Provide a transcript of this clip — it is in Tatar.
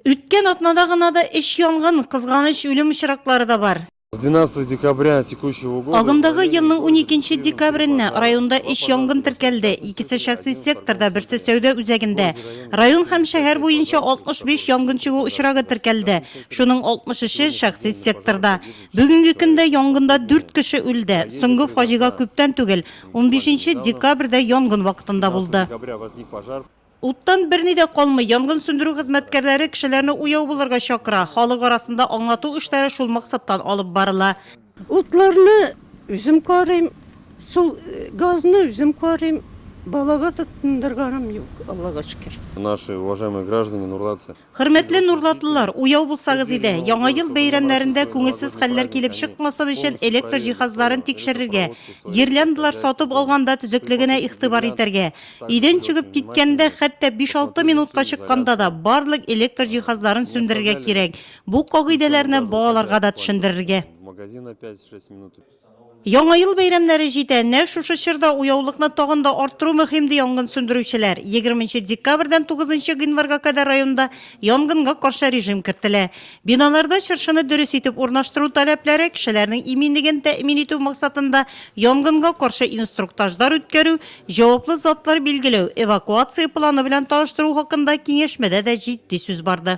Үткән атнада гына да өч янгын, кызганыч үлем очраклары да бар. С 12 декабря текущего года Агымдагы елның 12 декабрендә районда эш янгын теркәлде. Икесе шәхси секторда, берсе сәүдә үзәгендә. Район һәм шәһәр буенча 65 янгын чыгу очрагы теркәлде. Шуның 63-е шәхси секторда. Бүгенге көндә янгында 4 кеше үлде. Соңгы фаҗига күптән түгел, 15 декабрьдә янгын вакытында булды. Уттан берни дә калмый. Янгын сүндерү хезмәткәрләре кешеләрне уяу булырга чакыра. Халык арасында аңлату эшләре шул максаттан алып барыла. Утларны үзем карыйм, су, газны үзем карыйм. Балага да тындырганым юк, Аллага шөкер. Наши уважаемые граждане Нурлатцы. Хөрмәтле нурлатлылар, уяу булсагыз иде, Яңа ел бәйрәмнәрендә күңелсез хәлләр килеп чыкмасын өчен электр җиһазларын тикшерергә, гирляндалар сатып алганда төзеклегенә игътибар итәргә. Өйдән чыгып киткәндә, хәтта биш-алты минутка чыкканда да, барлык электр җиһазларын сүндерергә кирәк. Бу кагыйдәләрне балаларга да төшендерергә. Яңа ел бәйрәмнәре җитә, нәкъ шушы чорда уяулыкны тагын да арттыру мөһим, ди янгын сүндерүчеләр. Егерме нче декабрьдән тугызынчы гыйнварга кадәр районда янгынга каршы режим кертелә. Биналарда чыршыны дөрес итеп урнаштыру таләпләре, кешеләрнең иминлеген тәэмин итү максатында янгынга каршы инструктажлар үткәрү, җаваплы затлар билгеләү, эвакуация планы белән таныштыру хакында киңәшмәдә дә җитди сүз барды.